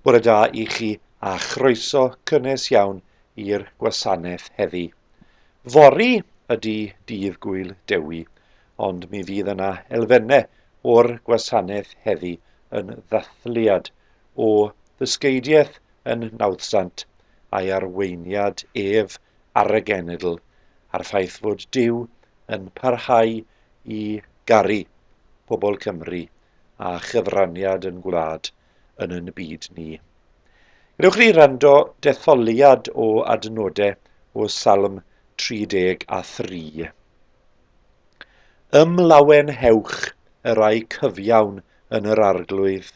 Bore da i chi a chroeso cynnes iawn i'r gwasanaeth heddi. Fori ydy dydd gwyl Dewi, ond mi fydd yna elfennau o'r gwasanaeth heddi yn ddathliad o ddysgeidiaeth yn nawddsant a'i arweiniad ef ar y genedl, a'r ffaith fod Duw yn parhau i garu pobl Cymru a chyfraniad yn gwlad yn yn byd ni. Gwnewch ni rando detholiad o adnodau o Salm 33. Ym Mlawenheuch y rai cyfiawn yn yr arglwydd,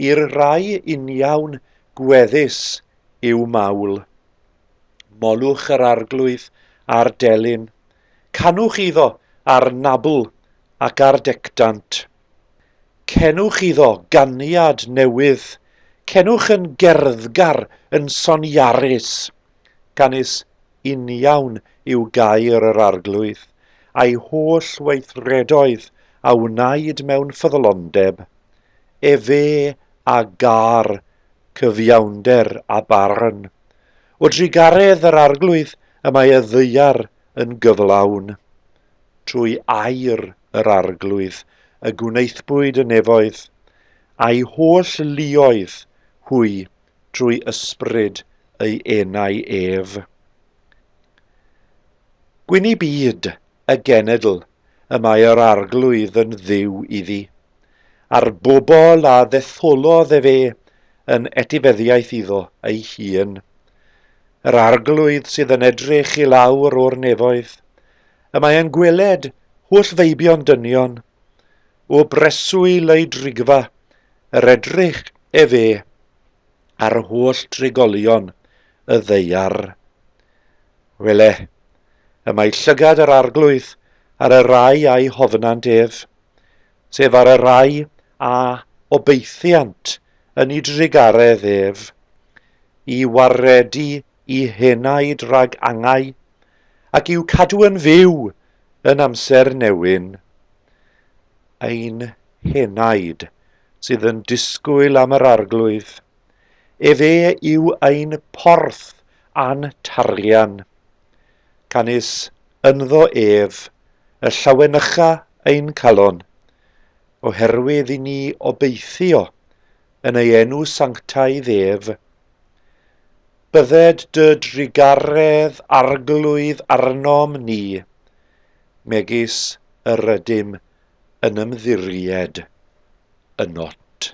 i'r rai uniawn gweddus yw mawl. Molwch yr arglwydd ar delyn, canwch iddo ar nabl ac ar decdant. Cenwch iddo ganiad newydd, cenwch yn gerddgar yn soniarus. Canys uniawn yw gair yr Arglwydd, a'i holl weithredoedd a wnaed mewn ffyddlondeb, efe a gâr cyfiawnder a barn. O drugaredd yr Arglwydd y mae y ddaear yn gyflawn. Trwy air yr Arglwydd y gwnaethpwyd y nefoedd, a'i holl luoedd hwy drwy ysbryd ei enau ef. Gwyn i byd, y genedl, y mae yr arglwydd yn ddiw iddi, a'r bobl a ddetholodd ef e yn etifeddiaeth iddo ei hun. Yr arglwydd sydd yn edrych i lawr o'r nefoedd, y mae yn gweled holl feibion dynion, o breswyl ei drigfa Yr edrych efe ar holl drigolion y ddaear. Wele, y mae llygad yr arglwydd ar y rai a'i hofynant ef, sef ar y rai a obeithiant yn ei drugaredd ef, i waredu i henaid rhag angau, ac i'w cadw yn fyw yn amser newyn. ein henaid sydd yn disgwyl am yr Arglwydd. Efe yw ein porth a'n tarian. Canys ynddo ef y llawenycha ein calon, oherwydd i ni obeithio yn ei enw sanctaidd ef. Bydded dy drugaredd, Arglwydd, arnom ni, megis yr rydym yn ymddiried yno't.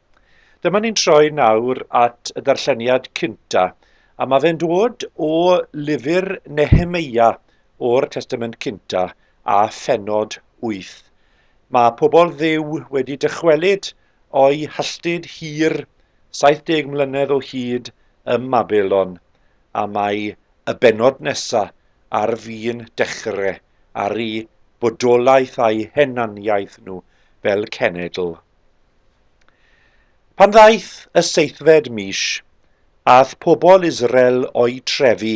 Dyma ni'n troi nawr at y darlleniad cynta, a mae fe'n dod o lyfr Nehemeia o'r Testament Cynta a phennod 8. Mae pobl dduw wedi dychwelyd o'i halltud hir 70 mlynedd o hyd ym Mabelon, a mae y bennod nesa ar fin dechre ar eu bodolaeth a'u henaniaeth nhw fel cenedl. Pan ddaeth y seithfed mis, ath pobl Israel o'i trefi,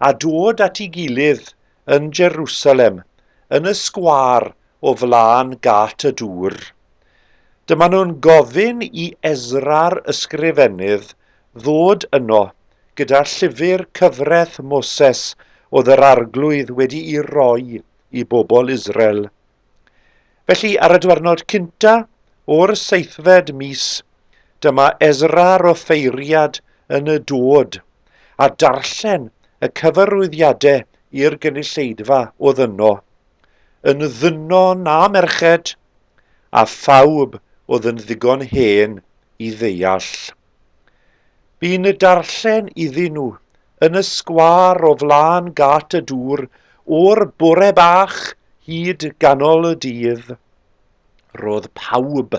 a dod at ei gilydd yn Jerusalem, yn y sgwâr o flaen gât y dŵr. Dyma nhw'n gofyn i Ezra'r ysgrifennydd ddod yno gyda llyfr cyfraith Moses oedd yr Arglwydd wedi'i roi i bobl Israel. Felly, ar y diwrnod cynta o'r seithfed mis, dyma Ezra'r offeiriad yn y dod, a darllen y cyfarwyddiadau i'r gynulleidfa oedd yno, yn ddynon a merched, a phawb oedd yn ddigon hen i ddeall. Bu'n y darllen iddyn nhw, yn y sgwâr o flaen gât y dŵr, o'r bore bach hyd ganol y dydd. Roedd pawb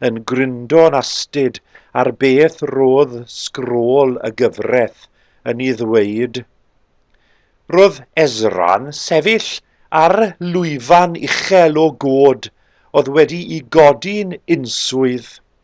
yn gryndo'n astud ar beth roedd sgrôl y gyfraith yn ei ddweud. Roedd Ezra'n sefyll ar lwyfan uchel o god oedd wedi'i godi'n unswydd.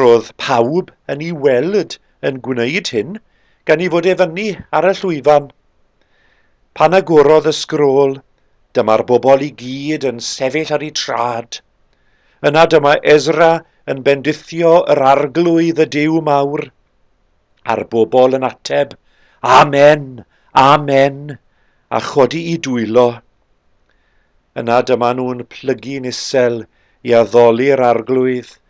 Roedd pawb yn ei weld yn gwneud hyn gan ei fod e fyny ar y llwyfan. Pan agorodd y sgrôl, dyma'r bobl i gyd yn sefyll ar eu traed. Yna dyma Ezra yn bendithio yr Arglwydd y Duw mawr, a'r bobl yn ateb, Amen! Amen! a chodi'u dwylo. Yna dyma nhw'n plygu'n isel i addoli'r Arglwydd,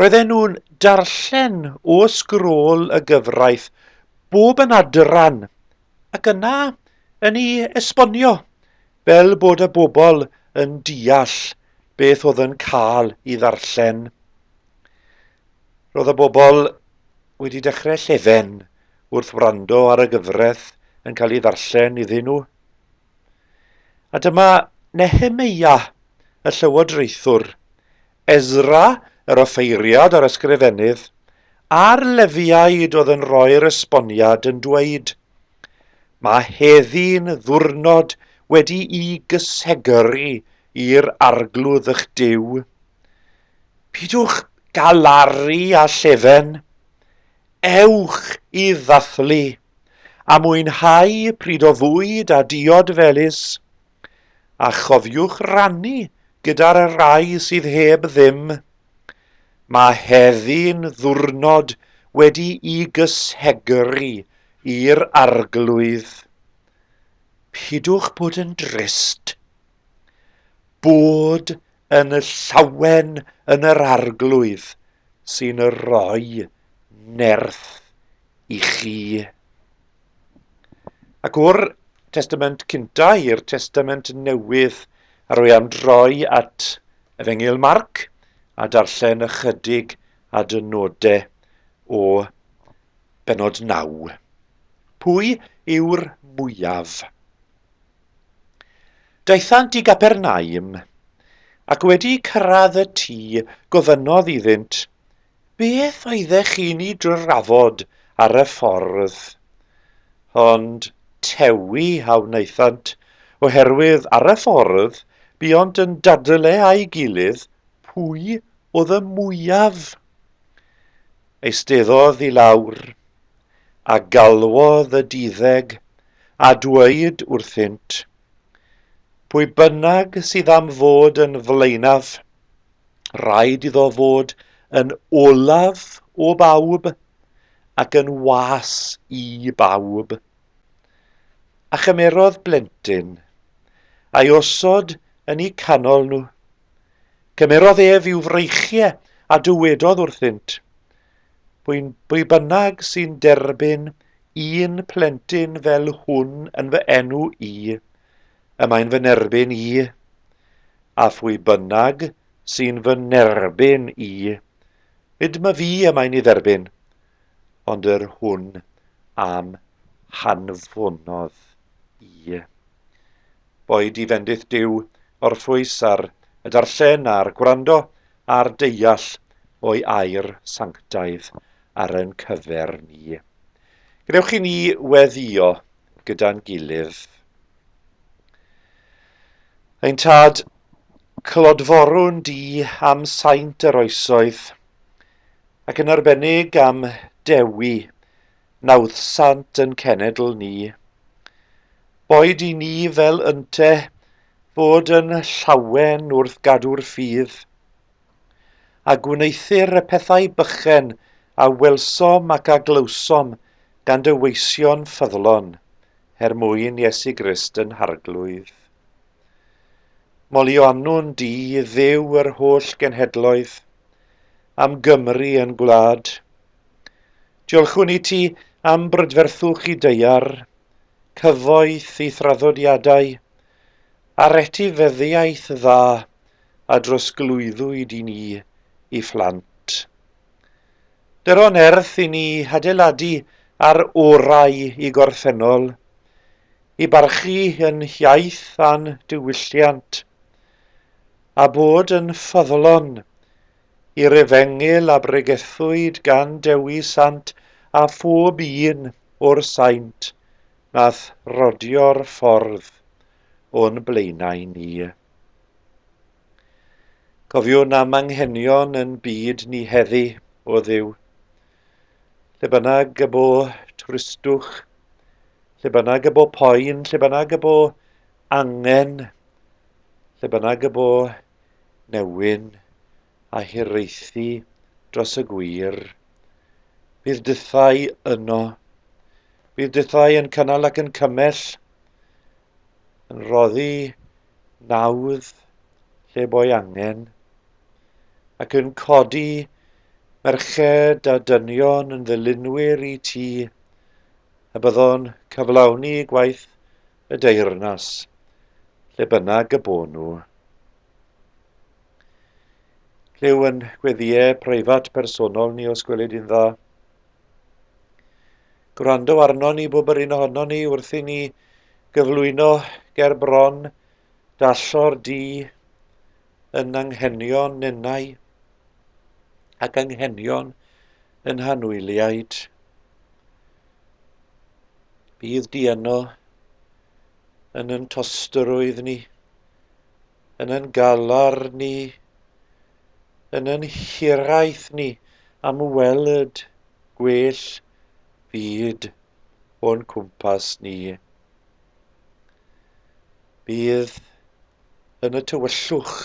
Roedden nhw'n darllen o sgrôl y gyfraith bob yn adran ac yna yn ei esbonio fel bod y bobl yn deall beth oedd yn cael ei ddarllen. Roedd y bobl wedi dechrau llefen wrth wrando ar y gyfraith yn cael ei ddarllen iddyn nhw. A dyma Nehemeia, y llywodraethwr, Ezra, yr offeiriad a'r ysgrifennydd, a'r Lefiaid oedd yn rhoi'r esboniad yn dweud, Mae heddi'n ddiwrnod wedi'i gysegru i'r Arglwydd eich Duw. Pidwch galaru â llefen. Ewch i ddathlu, a mwynhau pryd o fwyd a diod felys, a chofiwch rannu gyda'r rai sydd heb ddim. Mae heddi'n ddiwrnod wedi'i gysegru i'r Arglwydd. Pidwch bod yn drist. Bod yn llawen yn yr Arglwydd sy'n rhoi nerth i chi. Ac o'r Testament Cynta i'r Testament Newydd, a rwy am droi at Efengyl Marc a darllen ychydig a dynodau o benod 9. Pwy yw'r mwyaf? Daethant i Gapernaum, ac wedi cyrraedd y tŷ gofynnodd iddynt, Beth oeddech chi'n ei drafod ar y ffordd? Ond tewi a wnaethant, oherwydd ar y ffordd buont yn dadl e â'i gilydd pwy oedd y mwyaf. Eisteddodd i lawr, a galwodd y duddeg, a dweud wrthynt, Pwy bynnag sydd am fod yn flaenaf, Rhaid iddo fod yn olaf o bawb ac yn was i bawb. A chymerodd blentyn, a'i osod yn eu canol nhw. Cymerodd ef i'w freichiau a dywedodd wrthynt, Bwy'n bwy bynnag sy'n derbyn un plentyn fel hwn yn fy enw i, y mae'n fy nerbyn i, a phwy bynnag sy'n fy nerbyn i, nid ma fi y mae'n ei dderbyn, ond yr hwn am hanfonodd i. Boed i fendith Duw orffwys ar y darllen a'r gwrando a'r deall o'i air sanctaidd ar yn cyfer ni. Gwnewch i ni weddio gyda'n gilydd. Ein tad clodforwn di am saint yr oesoedd, ac yn arbennig am dewi nawddsant yn cenedl ni. Boed i ni fel ynte fod yn llawen wrth gadw'r ffydd, a gwneuthur y pethau bychen a welsom ac a glywsom gan dy weision ffyddlon, her mwyn Iesu Grist yn harglwydd. Molionnwn di, Dduw yr holl genhedloedd, am Gymru yn gwlad. Diolchwn i ti am brydferthwch i deiar, cyfoeth i thraddodiadau, a'r etifeddiaeth dda, a drosglwyddwyd i ni i phlant. Dyro nerth i ni hadeiladu ar orau i gorffennol, i barchu yn hiaith a'n diwylliant, a bod yn ffyddlon i'r efengyl a bregethwyd gan Dewi Sant a phob un o'r saint nath rodio'r ffordd o'n blaenau ni. Cofiwn am anghenion yn byd ni heddi, o Dduw. Lle bynnag y bo tristwch, lle bynnag y bo poen, lle bynnag y bo angen, lle bynnag y bo newyn a hiraethu dros y gwir, bydd dythau yno. Bydd dythau yn cynnal ac yn cymell, yn rhoddi nawdd lle bo ei angen, ac yn codi merched a dynion yn ddilynwyr i ti, y byddwn cyflawni gwaith y deyrnas, lle bynnag y bo nhw. Clyw yn gweddiau preifat personol ni os gwelid yn dda. Gwrando arno ni bob yr un ohono ni wrth i ni Gyflwyno ger bron, dallor di yn anghenion nenau ac anghenion yn hanwyliaid. Bydd di yno yn yn tostrwydd ni, yn yn galar ni, yn yn hiraeth ni am weld gwell byd o'n cwmpas ni. Bydd yn y tywyllwch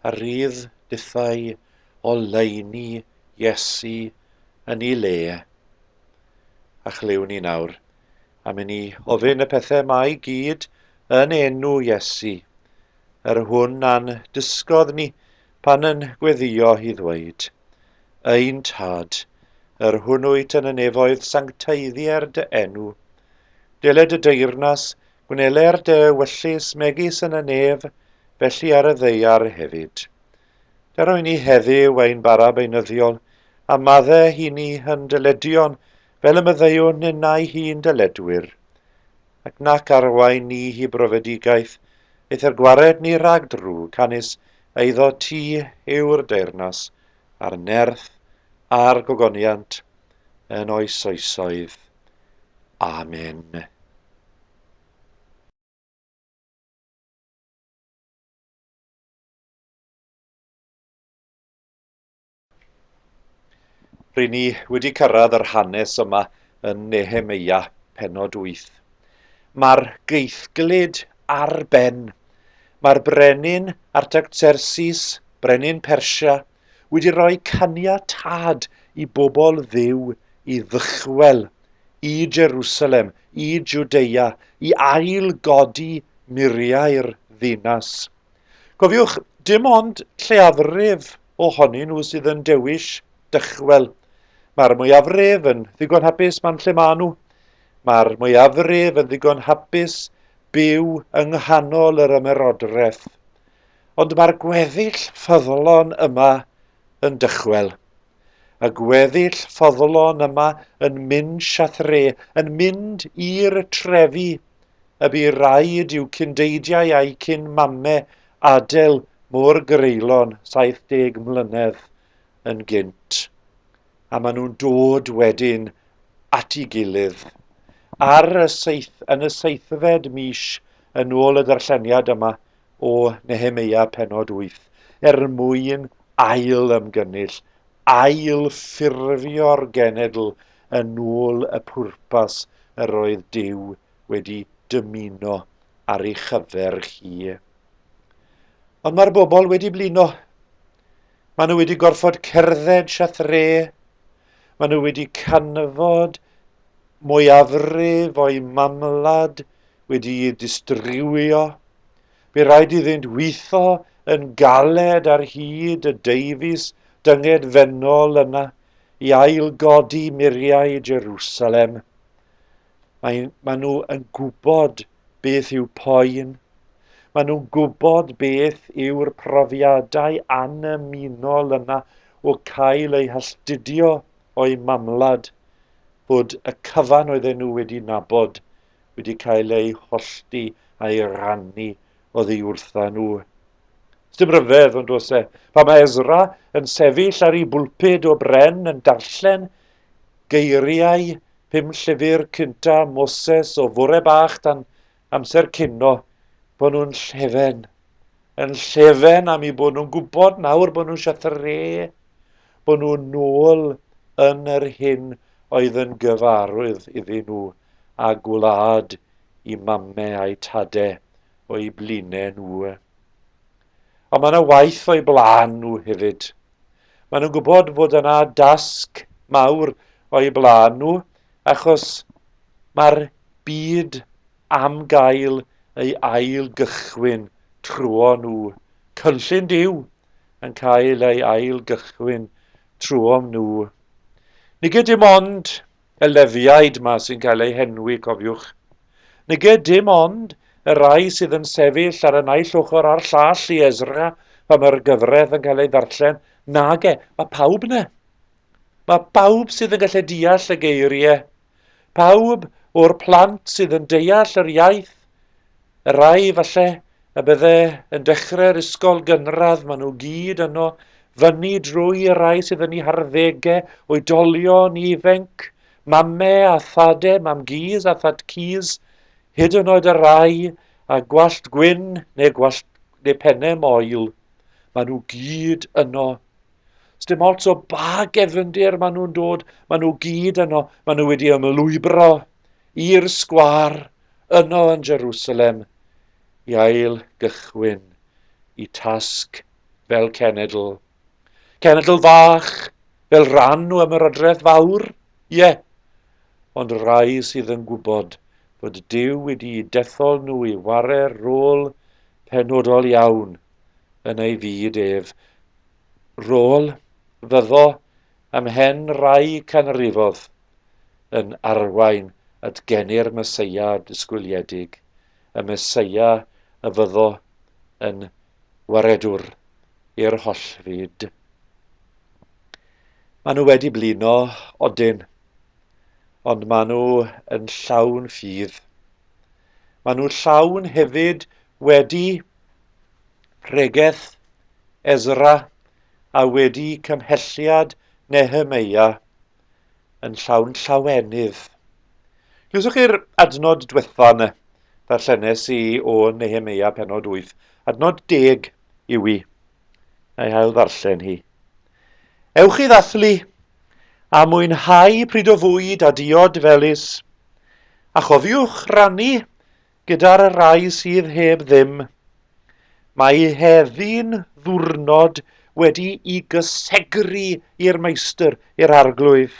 a rydd dithau oleuni Iesu yn ei le. A chlyw ni nawr, am i ni ofyn y pethau mae gyd yn enw Iesu, yr hwn a'n dysgodd ni Pan yn gweddïo hi ddweud, Ein Tad, yr hwn wyt yn y nefoedd sancteiddier dy enw. Dele dy deyrnas, gwneler dy wyllys megis yn y nef, felly ar y ddeiar hefyd. Ger o'i ni heddiw ein bara beunyddiol, a madde hi ni hyn dyledion, fel y myddeiwn ninnau hi'n dyledwyr. ac nac arwain ni hi brofedigaeth, eithr gwared ni rhag drwg, canys eiddo ti yw'r deyrnas, a'r nerth, a'r gogoniant, yn oes oesoedd. Amen. Rŷn ni wedi cyrraedd yr hanes yma yn Nehemeia, penod 8. Mae'r geithglyd ar ben. Mae'r brenin Artagtersis, brenin Persia, wedi rhoi caniatad i bobl ddiw i ddychwel i Jerusalem, i Judea, i ail godi muriau'r ddinas. Cofiwch, dim ond lleiafrif ohonyn nhw sydd yn dewis dychwel. Mae'r mwyafrif yn ddigon hapus man lle maen nhw. Mae'r mwyafrif yn ddigon hapus byw yng nghanol yr ymerodraeth. Ond mae'r gweddill ffyddlon yma yn dychwel. Y gweddill ffyddlon yma yn mynd siathre, yn mynd i'r trefi, y bu raid i'w cyndeidiau a'u cyn mame adael Môr Greulon 70 mlynedd yn gynt, a maen nhw'n dod wedyn at ei gilydd ar y seith, yn y seithfed mis yn ôl y darlleniad yma o Nehemeia penod 8, er mwyn ail ymgynnull, ail ffurfio'r genedl yn ôl y pwrpas yr oedd Duw wedi dymuno ar ei chyfer hi. Ond mae'r bobl wedi blino. Maen nhw wedi gorfod cerdded siathre. Maen nhw wedi canfod mwyafrif o'i mamlad wedi'i distriwio. Fe rhaid iddynt weithio yn galed ar hyd y deifis dynged fennol yna i ail godi muriau Jerusalem. Mae, mae nhw yn gwybod beth yw poen. Mae nhw'n gwybod beth yw'r profiadau annymunol yma o cael eu hastudio o'i mamwlad, bod y cyfan oedden nhw wedi nabod wedi cael eu hollti a'i rannu oddi wrtha nhw. Dim rhyfedd, ond os e, pa mae Ezra yn sefyll ar ei bwlpud o bren yn darllen Geiriau pum llyfr cynta Moses o fore bach dan amser cino bod nhw'n llefen. Yn llefen am i bod nhw'n gwybod nawr bod nhw'n siatre, bod nhw'n nôl yn yr hyn oedd yn gyfarwydd iddyn nhw a gwlad i mame a'i tade o'u bline nhw. Ond mae yna waith o'u blaen nhw hefyd. Maen nhw'n gwybod fod yna dasg mawr o'u blaen nhw achos mae'r byd am gael ei ail gychwyn trwyo nhw. Cynllun Duw yn cael ei ail gychwyn trwyo nhw. Nid dim ond y lefiaid 'ma sy'n cael eu henwi, cofiwch. Nage, dim ond y rai sydd yn sefyll ar y naill ochr a'r llall i Ezra pan mae'r gyfraith yn cael ei ddarllen. Nage, mae pawb 'na. Mae pawb sydd yn gallu deall y geiriau. Pawb o'r plant sydd yn deall yr iaith Y rhai, falle, y bydde yn dechrau'r ysgol gynradd, maen nhw gyd yno, fyny drwy y rhai sydd yn ei harddegau, oedolion ifenc, mame a thade, mam gys a thad cys, hyd yn oed y rhai a gwallt gwyn neu gwallt neu pennau moel. Maen nhw gyd yno. Sdim ots o ba gefndir maen nhw'n dod, maen nhw gyd yno, maen nhw wedi ymlwybro i'r sgwar yno yn Jerusalem i ail gychwyn y tasg fel cenedl. Cenedl fach fel rhan o ymerodraeth fawr? Ie, ond rai sydd yn gwybod fod Duw wedi'u dethol nhw i ware rôl penodol iawn yn ei fyd ef. Rôl fyddo ymhen rai canrifodd yn arwain at geni'r Meseia disgwyliedig, y Meseia y fyddo yn waredwr i'r holl fyd. Maen nhw wedi blino, odyn, ond maen nhw yn llawn ffydd. Maen nhw llawn hefyd wedi pregeth Ezra a wedi cymhelliad Nehemeia yn llawn llawenydd. Glywsoch chi'r adnod diwetha yna? Darllenes i o Nehemia penod 8, adnod deg yw i. Na i hael ddarllen hi. Ewch i ddathlu, a mwynhau pryd o fwyd a diod felus, a chofiwch rannu Gyda'r rhai sydd heb ddim, mae heddi'n ddiwrnod wedi'i gysegru i'r Meistr, i'r Arglwydd.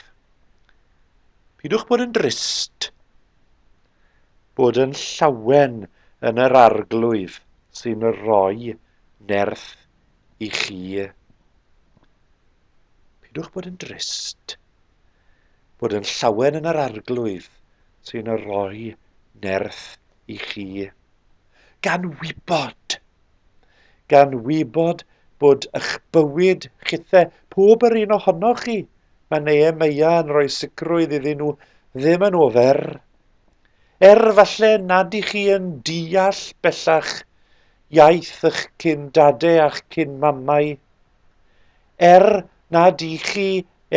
Pidwch bod yn drist, bod yn llawen yn yr Arglwydd sy'n rhoi nerth i chi. Pidwch bod yn drist. bod yn llawen yn yr Arglwydd sy'n rhoi nerth i chi. Gan wybod, gan wybod bod eich bywyd chithe, pob yr un ohonoch chi, mae Neu Meia yn rhoi sicrwydd iddyn nhw ddim yn ofer. Er falle nad i chi yn deall bellach iaith eich cyn dade a'ch cyn mamau, Er nad ych chi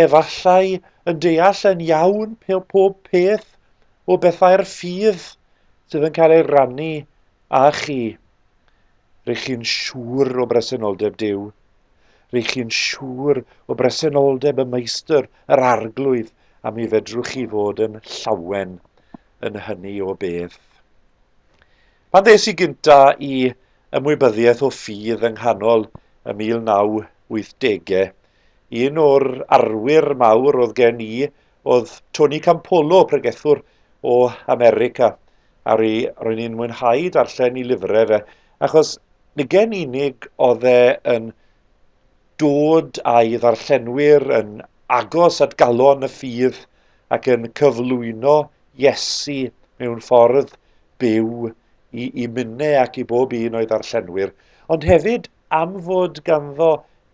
efallai yn deall yn iawn pob peth o bethau'r ffydd sydd yn cael ei rannu â chi, r'ych chi'n siŵr o bresenoldeb Duw. R'ych chi'n siŵr o bresenoldeb y Meistr, yr Arglwydd, a mi fedrwch chi fod yn llawen yn hynny o beth. Pan ddes i gynta i ymwybyddiaeth o ffydd yng nghanol y 1980ge. Un o'r arwyr mawr oedd gen i oedd Tony Campolo, pregethwr o America, a ry, ro'n i'n mwynhau darllen i lyfrau fe, achos ni gen unig oedd e yn dod â'i ddarllenwyr yn agos at galon y ffydd ac yn cyflwyno Iesu mewn ffordd byw i, i minnau ac i bob un o'i ddarllenwyr, ond hefyd am fod ganddo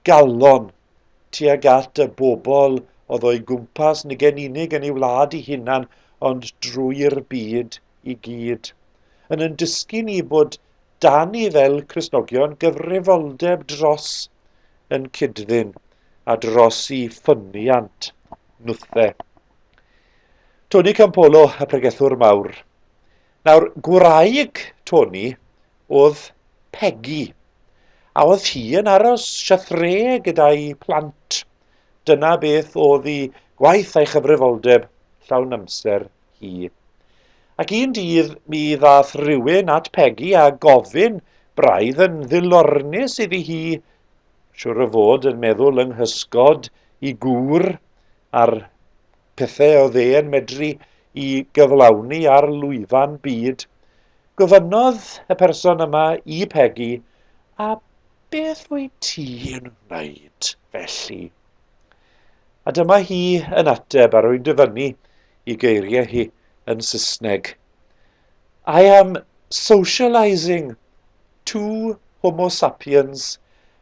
galon tuag at y bobl oedd o'i gwmpas, nid gen unig yn ei wlad ei hunan, ond drwy'r byd i gyd. Yn yn dysgu ni bod dan ni fel Cresnogion gyfrifoldeb dros yn cydddyn a dros i ffyniant nwthe. Tony Campolo, y pregethwr mawr, Nawr, gwraig Toni oedd Pegi, a oedd hi yn aros siathre gyda'i plant. Dyna beth oedd hi gwaith a'i chyfrifoldeb llawn amser hi. Ac un dydd mi ddath rhywun at Pegi a gofyn braidd yn ddilornus iddi hi, siwr o fod yn meddwl yng nghysgod i gŵr ar pethau oedd e'n medru i gyflawni ar lwyfan byd, gofynnodd y person yma i Pegi, a beth wyt ti yn wneud felly? A dyma hi yn ateb a rwy'n dyfynnu i geiriau hi yn Saesneg. I am socialising two homo sapiens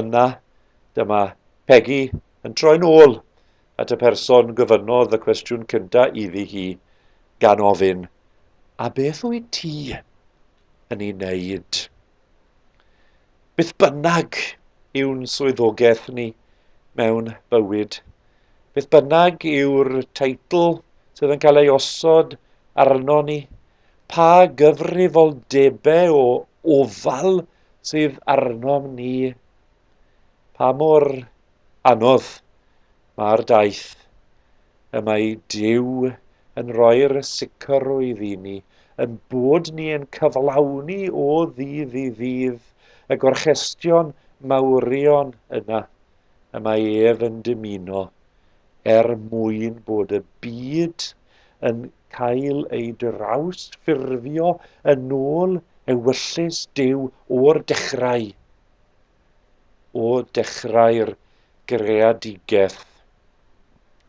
Yna, dyma Pegi yn troi'n ôl at y person gyfynnodd y cwestiwn cynta iddi hi, gan ofyn, A beth wyt ti yn ei wneud? Beth bynnag yw'n swyddogaeth ni mewn bywyd, beth bynnag yw'r teitl sydd yn cael ei osod arno ni, pa gyfrifoldebau o ofal sydd arnom ni, pa mor anodd mae'r daith. Y mae Duw yn rhoi'r sicrwydd i ni, yn bod ni yn cyflawni o ddydd i ddydd y gorchestion mawrion yna y mae ef yn dymuno er mwyn bod y byd yn cael ei drawsffurfio yn ôl ewyllys Duw o'r dechrau, o dechrau'r greadigaeth.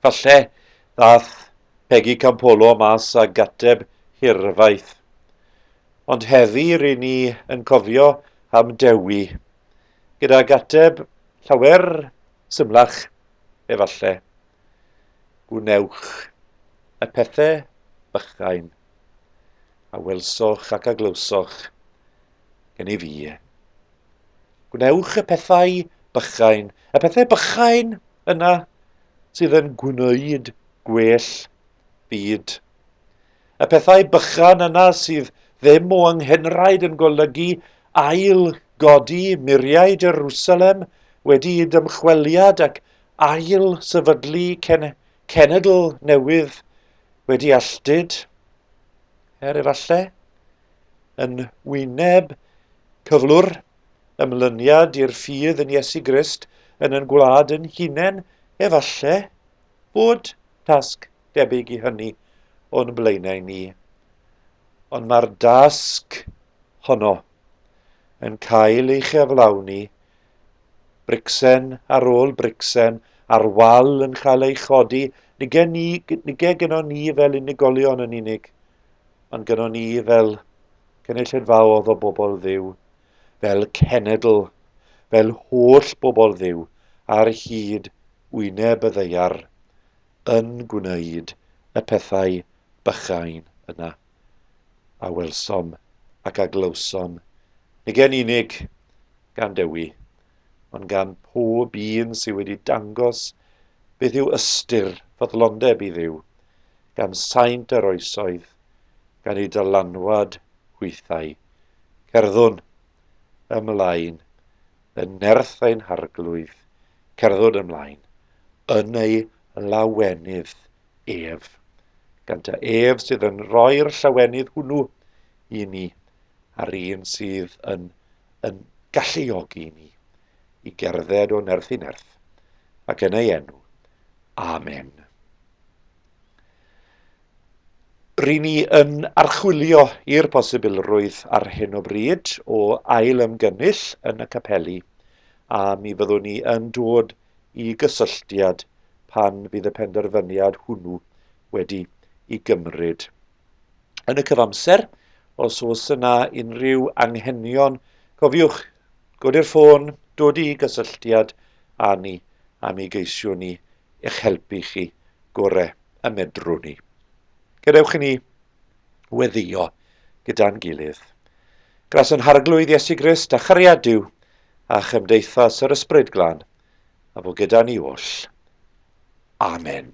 Falle ddath Pegi Campolo mas a gateb hirfaith. Ond heddi rydyn ni yn cofio am Dewi, gyda gateb llawer symlach efallai. Gwnewch y pethau bychain a welsoch ac a glywsoch gen i fi. Gwnewch y pethau bychain, y pethau bychain yna sydd yn gwneud gwell byd. Y pethau bychan yna sydd ddim o anghenraid yn golygu ail godi muriau Jerusalem wedi dymchweliad ac ail sefydlu cen cenedl newydd wedi alltud, er efallai, yn wyneb cyflwr ymlyniad i'r ffydd yn Iesu Grist yn yn gwlad yn hunain, efallai bod tasg debyg i hynny o'n blaenau ni. Ond mae'r dasg honno yn cael ei chyflawni Bricsen ar ôl bricsen ar wal yn cael ei chodi, nid gen ni, nid gynnon ni fel unigolion yn unig, ond gynnon ni fel cynulleidfaodd o bobl ddiw, fel cenedl, fel holl bobl ddiw, ar hyd wyneb y ddeiar, yn gwneud y pethau bychain yna. a welsom ac a glywsom, nid yn unig gan Dewi, ond gan pob un sydd wedi dangos beth yw ystyr ffyddlondeb i dduw, gan saint yr oesoedd, gan ei dylanwad hwythau. Cerddwn ymlaen yn nerth ein harglwydd, cerddwn ymlaen yn ei lawenydd Ef. Gan ta ef sydd yn rhoi'r llawenydd hwnnw i ni, a'r un sydd yn yn galluogi ni i gerdded o nerth i nerth, ac yn ei enw. Amen. Ry'n ni yn archwilio i'r posibilrwydd ar hyn o bryd o ail ymgynnull yn y capeli, a mi fyddwn ni yn dod i gysylltiad pan fydd y penderfyniad hwnnw wedi i gymryd. Yn y cyfamser, os oes yna unrhyw anghenion, cofiwch godi'r ffôn, dod i gysylltiad â ni a mi geisiwn ni eich helpu chi gore y medrwn ni. Gadewch i ni weddio gyda'n gilydd. Gras yn Harglwydd Iesu Grist a chariad Duw a chymdeithas yr Ysbryd Glân, a bo gyda ni oll. Amen.